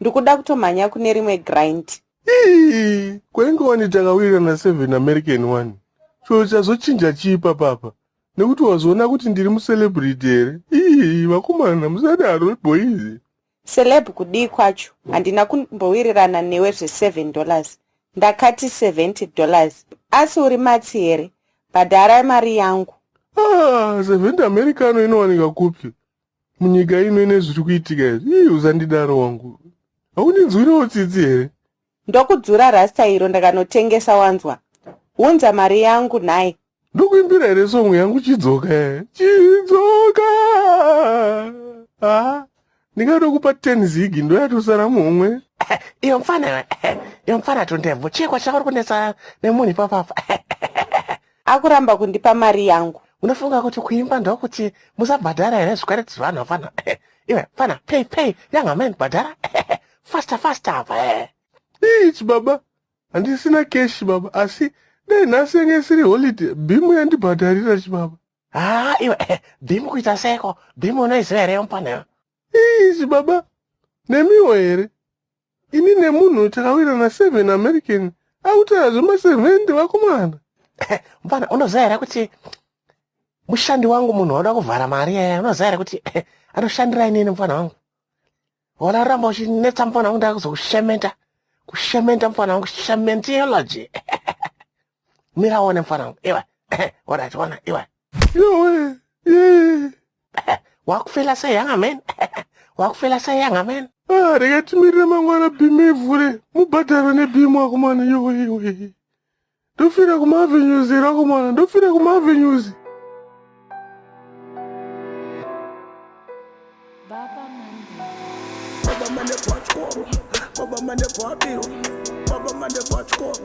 Ndikuda kutomhanya kune rimwe grind. Iiii, kwainge wani takawirirana 7 American wani. So chazochinja chii papapa? Nekuti wazoona kuti ndiri mucelebrity here? Iiii, vakomana musadaro boys. Celeb kudii kwacho? Handina kumbowirirana newe zve 7 dollars. Ndakati 70 dollars. Asi uri matsi here? Bhadhara mari yangu. Ah, 70 Americano inowanika kupi? munyika ino ine zviri kuitika izvi ii usandidaro wangu haundinzwirewo tsitsi here ndokudzura rasta iro ndakanotengesa wanzwa hunza mari yangu nhai ndokuimbira here songo yangu chidzoka e chidzoka ha ndingatokupa ten zigi ndoyatosara mumwe iyo mfana iyo mfana tondebvu chii kwachauri kunetsana nemunhu ipapapa akuramba kundipa mari yangu unofunga kuti kuimba ndokuti musabhadhara here zvikwereti zvevanhu vafana iwe fana pay pay young man bhadhara faster faster apa eh. its baba handisina cash baba asi dai nhasi yange isiri holiday bimu yandibhadharira chibaba haa ah, iwe eh, bimu kuita seko bimu unoiziva here yompanayo its baba nemiwo here Ini nemunhu takawirana 7 American akutaura zvema 70 vakomana. Mfana unoziva here kuti mushandi wangu munhu wauda kuvhara mari yaya unoziva here kuti anoshandira inini mfana wangu. Wona uramba uchinetsa mfana wangu ndakuzokushementa. Kushementa mfana wangu shementeology. mira one mfana wangu iwe orat ona iwe wakufela sei yanga men wakufela sei yanga men ah, rega timirire mangwana bhima ivhure mubhadharo nebhima akomana yowe yowe ndofira kumaavenues here akomana ndofira kumaavenues baba mane bachikoro baba mane bwabiro baba mane bachikoro